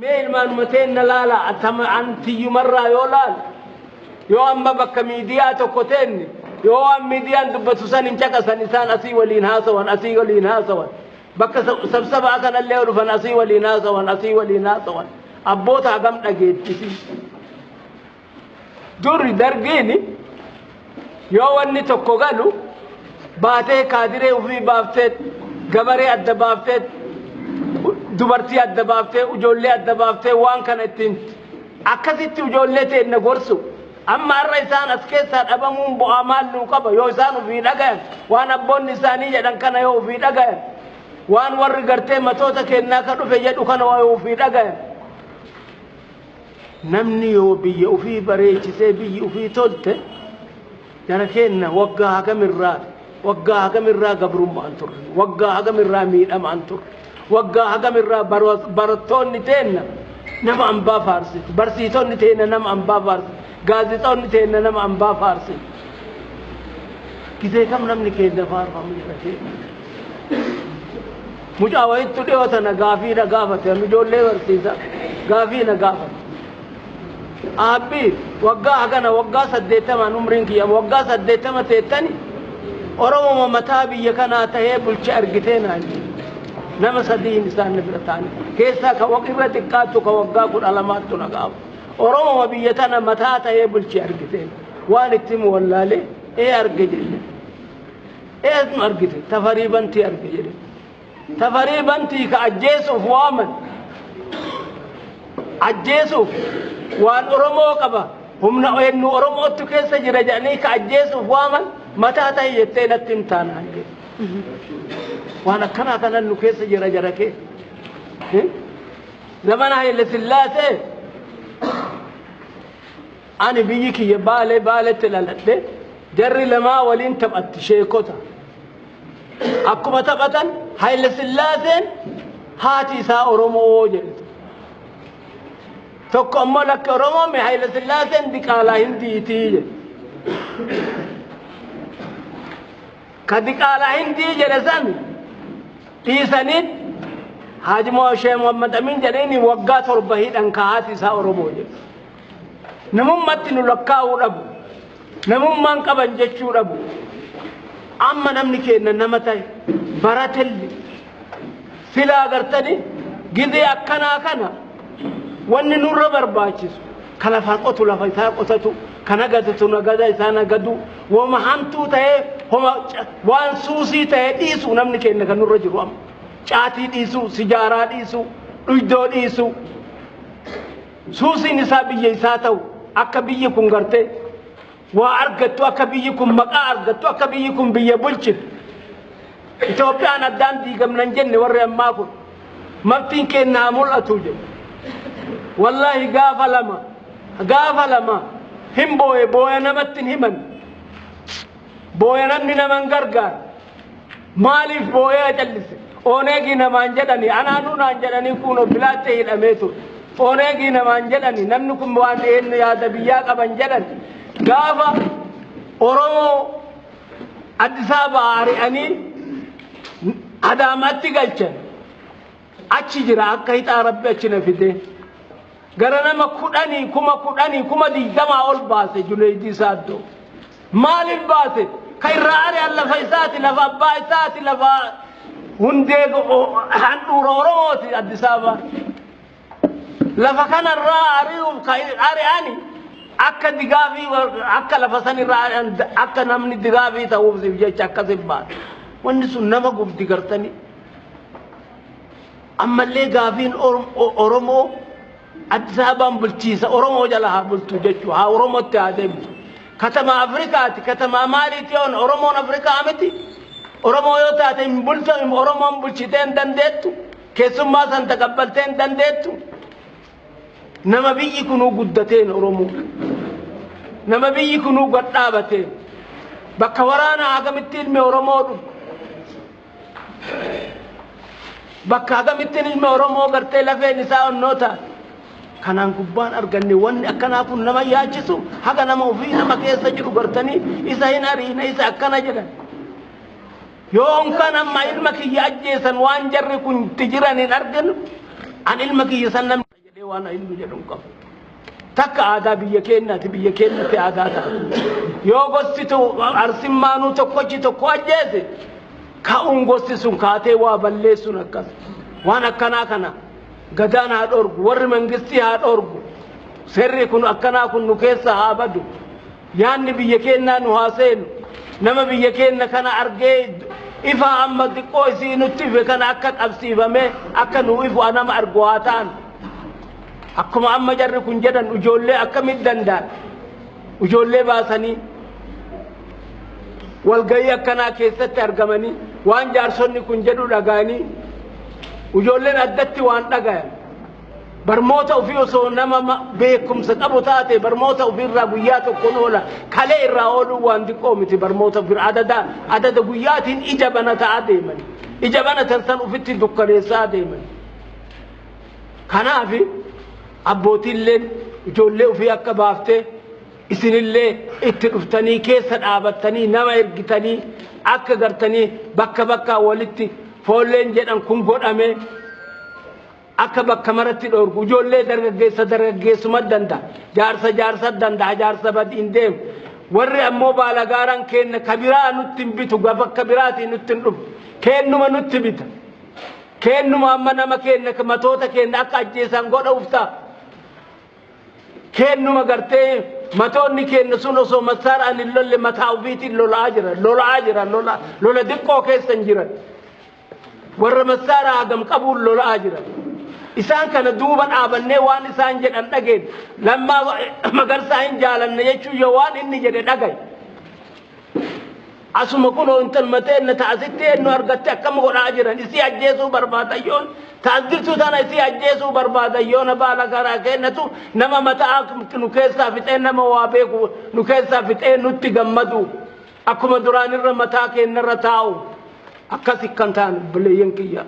Mee ilmaanuma teenna laalaa, an tama an tiyyumarraa yoo laalu, yoo amma bakka miidiyaa tokko teenne, yoo waan miidiyaan dubbatu san hin caqasan, isaan asii waliin haasawan, asii waliin haasawan, bakka sab- sabsabaa kanallee yoo dhufan asii waliin haasawan, asii waliin haasawan, abboota hagam dhageettisii. Durri dargiin yoo wanni tokko galu baatee kaadiree ofii baaftee gabaree adda baaftee dubartii adda baaftee ijoollee adda baaftee waan kana ittiin akkasitti ijoollee teenna gorsu amma har'a isaan as keessaa dhabamuun bu'aa maal nuu qaba yoo isaan ofii dhagayan waan abboonni isaanii jedhan kana yoo ofii dhagayan waan warri gartee matoota keennaa ka dhufe jedhu kana yoo ofii dhagayan Namni yoo biyya ufii bareechisee biyyi ufii tolte jara keenna waggaa hagamirraa waggaa hagamirraa gabrummaan turre waggaa hagamirraa miidhamaan turre waggaa hagamirraa barattoonni teenna nama ambaa faarsiti barsiisonni teenna nama ambaa faarsiti gaazexoonni teenna nama ambaa faarsiti gisee kam namni keenna faarfamu jara keenna Mucaa wayittu dhiyoo tana gaafii na gaafate amma ijoollee barsiisa gaafii na gaafate. Aabbii waggaa hagana waggaa saddeettamaan umriin kiyya waggaa saddeettama teettani Oromoma mataa biyya kanaa tahee bulche argitee naan jedhe. Nama sadiin isaan na bira taa'an keessaa ka waq irra xiqqaattu ka waggaa kudha lamaattu na gaafa. Oromoma biyya tana mataa tahee bulche argitee waan itti himu wallaalee ee arge jedhe. Eesnu argite? Tafarii Bantii arge jedhe. Tafarii Bantii ka ajjeesuuf waaman. Ajjeesuuf waan Oromoo qaba. Humna eenyu Oromoottu keessa jira jedhanii ka ajjeesuuf waaman mataa ta'i jettee natti hin taanaan jedhe. Waan akkanaa kanan nu keessa jira jara kee. Zamana Haile Sillaasee Ani biyyi kiyya Baalee Baaletti dhaladhe. Jarri lamaa waliin taphatti sheekota. Akkuma taphatan Hayila Sillaaseen haati isaa Oromoo jedhite. Tokko ammoo lakki Oromoo mi Hayila Sillaaseen diqaalaa hindiitii jedhe. Ka diqaalaa hindii jedhe san dhiisanii Haaji Moshee Muhammad Amin jedhanii waggaa torba hidhan ka haati isaa Oromoo jedhe. Namummatti nu lakkaa'uu dhabu. Namummaan qaban jechuu dhabu. Amma namni keenna nama ta'e baratelli silaa gartanii gizee akkanaa kana wanni nurra barbaachisu ka lafa qotu lafa isaa qotatu ka nagadatu nagada isaa nagadu woma hamtuu ta'ee homa waan suusii ta'ee dhiisu namni keenna kan nurra jiru amma caatii dhiisu sijaaraa dhiisu dhuydoo dhiisu Suusiin isaa biyya isaa ta'u akka biyyi kun gartee waa argattu akka biyyi kun maqaa argattu akka biyyi kun biyya bulchitu. Itoophiyaan addaan diigamnan jenne warri ammaa kun maftiin keenya haa mul'atu jedhu. Wallaahi gaafa lama gaafa lama hin booye booya namatti hin himan. Booya namni nama hin gargaaru. Maaliif boo'ee acallise? Oneegii namaan jedhani anaanuu naan jedhanii kuunoo filaattee hidhamee ture. Oneegii namaan jedhani namni kun waan eenyu yaada biyyaa qaban jedhan gaafa Oromoo Addis Ababaa ari'anii Adaamaatti galchan achi jira akka hixaa rabbi achi na fidee. Gara nama kudhanii kuma kudhanii kuma digdamaa ol baase Juneeydii Saaddoo. Maaliif baase? Ka irraa ari'an lafa isaati, lafa abbaa isaati, lafa hundee handhuura Oromooti Addis Ababa. Lafa kanarraa ari'uuf ka ari'ani akka digaafii akka lafa sanirraa ari'an akka namni digaafii ta'uufsiif jecha akkasiif baase. Wanni sun nama gubdi gartanii. Ammallee gaafiin Oromoo Addis Ababaan bulchiinsa Oromoo jala haa bultu jechuu haa Oromootti haa deebitu. Katamaa Afrikaati katamaa maaliiti yoon Oromoon Afrikaa miti. Oromoo yoo taate hin bultu Oromoon bulchitee hin dandeettu. Keessummaa san taqabbaltee hin dandeettu. Nama biyyi kunuu guddateen Oromoo. Nama biyyi kunuu gad dhaabateen. Bakka waraanaa akkamitti ilmi Oromoo dhufu. Bakka agamittiin ilmi Oromoo gartee lafeen isaa onnoota kanaan gubbaan arganne wanni akkanaa kun nama yaachisu haga nama ofii nama keessa jiru gartanii isa hin ariine isa akkana jedhan. Yoon kan amma ilma kiyya ajjeesan waan jarri kun itti jiran hin arginu an ilma kiyya san namni. jedhee waan inni jedhu hin qabu. Takka aadaa biyya keenyaati biyya keenyatti aadaa ta'a. Yoo gosti arsimmaanuu tokkochi tokko ajjeese ka'uun gosti sun kaatee waa balleessuun akkas. Waan akkanaa kana gadaan haa dhorgu warri mangistii haa dhorgu seerri kun akkanaa kun nu keessa haa badu. Yaanni biyya keennaa nu haa seenu. Nama biyya keenna kana argee ifaa amma xiqqoo isii nutti ife kana akka qabsiifamee akka nuu ifu anama argu haa ta'an. Akkuma amma jarri kun jedhan ijoollee akkamitti danda'an? Ijoollee baasanii walgahii akkanaa keessatti argamanii waan jaarsonni kun jedhu dhaga'anii ijoolleen addatti waan dhagayan. Barmoota ofii osoo nama ma- beekumsa qabu taate barmoota ofii irraa guyyaa tokkoon oola kalee irraa ooluun waan xiqqoo miti barmoota ofii irraa adada adada guyyaatiin ija bana ta'aa deeman ija bana tartan ofitti dukkaneessaa deeman kanaaf abbootiilleen ijoollee ofii akka baaftee isinillee itti dhuftanii keessa dhaabattanii nama ergitanii akka gartanii bakka bakkaa walitti foolleen jedhan kun godhamee akka bakka maratti dhoorgu ijoollee dargaggeessa dargaggeessuma danda jaarsa jaarsa danda jaarsa badiin deemu warri ammoo baalagaaraan keenna ka biraa nutti hin bitu gaf akka biraatii nutti hin dhufu keennuma nutti bita keennuma amma nama keenna matoota keenna akka ajjeesaan godha uftaa keennuma gartee matoonni keenna sun osoo masaaraan hin lolle mataa ofiitiin lolaa jira lolaa jira lola lola diqqoo keessa hin jiran. Warra massaaraa hagam qabuun lola'aa jiran. Isaan kana duuba dhaabannee waan isaan jedhan dhageen lammaa magarsaa hin jaalanne jechuun yoo waan inni jedhe dhagaye. Asuma kunoo intalma teenna ta asitti eenyu argatte akkam godhaa jiran isii ajjeesuu barbaadan yoon ta as jirtu tana isii ajjeesuu barbaadan yoona baala karaa keennatu nama mata'aa nu keessaa fixee nama waa beeku nu keessaa fixee nutti gammadu. Akkuma duraan irra mataa keenna irra taa'u akkas ikkan taane obboleeyyan kiyya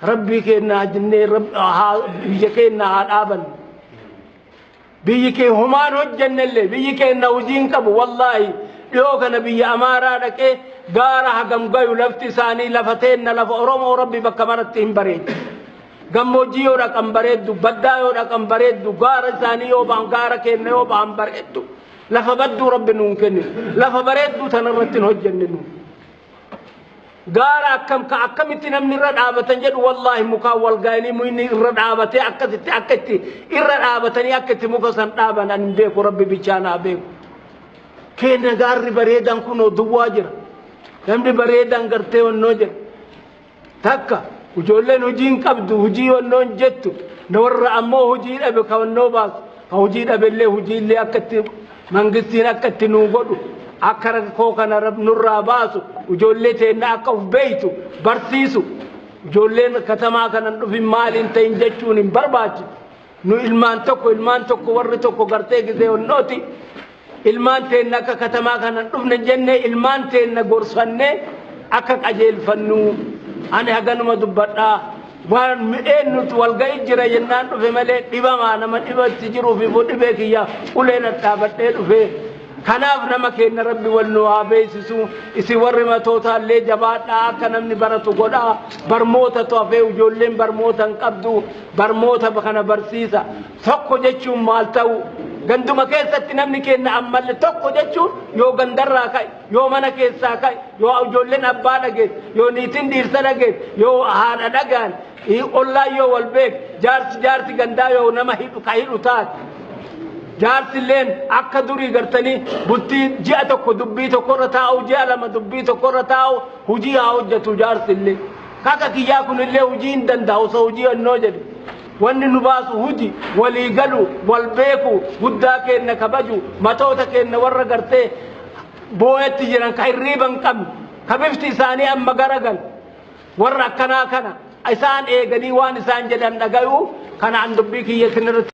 rabbii keenna haa jennee rab- haa- biyya keenna haa dhaaban biyyi kee humaan hojjennellee biyyi keenna hojii hin qabu wallaahi dhiyoo kana biyya amaaraa dhaqee gaara hagam gayu lafti isaanii lafa teenna lafa oromoo rabbi bakka maratti hin bareedu gammoojjii yoo dhaqan bareeddu baddaa yoo dhaqan bareeddu gaara isaanii yoo ba'an gaara keenna yoo ba'an bareeddu Lafa badduu Rabbi nuun kennine. Lafa bareedduu tanarratti hin hojjenne nu. Gaara akkam ka akkamitti namni irra dhaabatan jedhu wallaahi mukaan wal gaa'ilii muyni irra dhaabatee akkasitti akka itti irra dhaabatanii akka itti muka san dhaaban ani hin beeku Rabbi bichaa naa beeku. Keenna gaarri bareedaan kunoo duwwaa jira. Namni bareedaan gartee wannoo jira. Takka ijoolleen hojii hin qabdu hojii wannoon jettu na warra ammoo hojii dhabe ka wannoo baasu ka hojii dhabellee hojiillee akka itti mangistiin akka itti nuu godhu akka rakkoo kana rab nurraa baasu ijoollee teenna akka uf beeytu barsiisu ijoolleen katamaa kanan dhufin maaliin ta'in jechuun hin barbaachisu. Nu ilmaan tokko ilmaan tokko warri tokko gartee gisee onnooti ilmaan teenna akka katamaa kana dhufne jenne ilmaan teenna gorsanne akka qajeelfannu ani haganuma dubbadhaa waan midheen nuti walga'ii jira jennaan dhufe malee dhibamaa nama dhibatti jiruuf immoo dhibee kiyya uleen adhaabadhee dhufe kanaaf nama keenya rabbi wal nu haa beeksisu isin warri matootaallee jabaadhaa akka namni baratu godhaa barmoota tofee ijoolleen barmoota hin qabdu Barmoota kana barsiisa. Tokko jechuun maal ta'uu? Ganduma keessatti namni keenya ammalle tokko jechuun yoo gandarraa ka'e, yoo mana keessaa ka'e, yoo ijoolleen abbaa dhageesse, yoo niitiin dhiirsa dhageesse, yoo haadha dhagaan, ollaan yoo wal beeke, jaarsi jaarsi gandaa yoo nama hidhu ka hidhu taate. Jaarsi illeen akka durii gartanii bultii ji'a tokko dubbii tokkorra taa'u, ji'a lama dubbii tokkorra taa'u, hujii haa hojjetu jaarsi illee. Kaka kiyyaa kunillee hujii hin danda'a osoo hujii onnoo jedhe. Wanni nu baasu huji, walii galu, wal beeku, guddaa keenna kabaju, matoota keenna warra gartee booyatti jiran ka hirriiba hin qabne, ka bifti isaanii amma garagalu, warra akkanaa kana isaan eeganii waan isaan jedhan dhagayuu, kanaan dubbii kiyya isinirratti.